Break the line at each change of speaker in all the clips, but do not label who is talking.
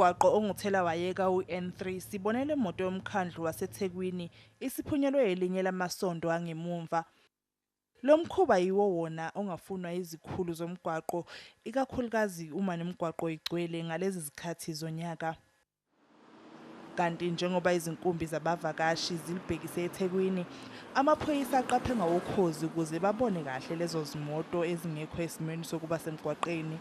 Umgwaqo onguthela wayeka uN3 sibone le moto yomkhandlu waseThekwini isiphunyelwe elinye lamasondo angemumva. Lo mkhuba yiwo wona ongafunwa yizikhulu zomgwaqo ikakhulukazi uma nemigwaqo igcwele ngalezi zikhathi zonyaka. Kanti njengoba izinkumbi zabavakashi zilibhekise eThekwini, amaphoyisa aqaphe ngawokhozi ukuze babone kahle lezo zimoto ezingekho esimweni sokuba semgwaqeni.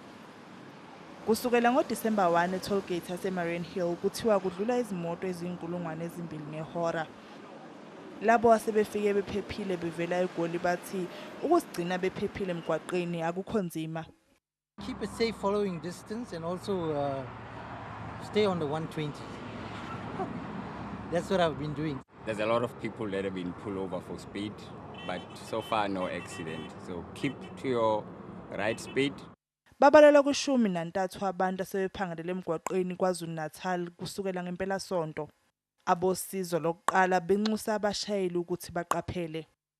Kusukela ngoDisemba 1 e-tollgate yaseMariannhill kuthiwa kudlula izimoto eziyinkulungwane ezimbili ngehora. Labo asebefike bephephile bevela eGoli bathi ukuzigcina bephephile emgwaqeni akukho nzima. Keep it
safe following distance and also uh, stay on the 120. That's what I've been doing. There's a lot of people
that have been pulled over for speed, but so far no accident. So keep to your right speed. Babalelwa
kwishumi nantathu abantu asebephangalele emgwaqweni KwaZulu-Natal kusukela ngempelasonto. Abosizo lokuqala benxusa abashayeli ukuthi baqaphele.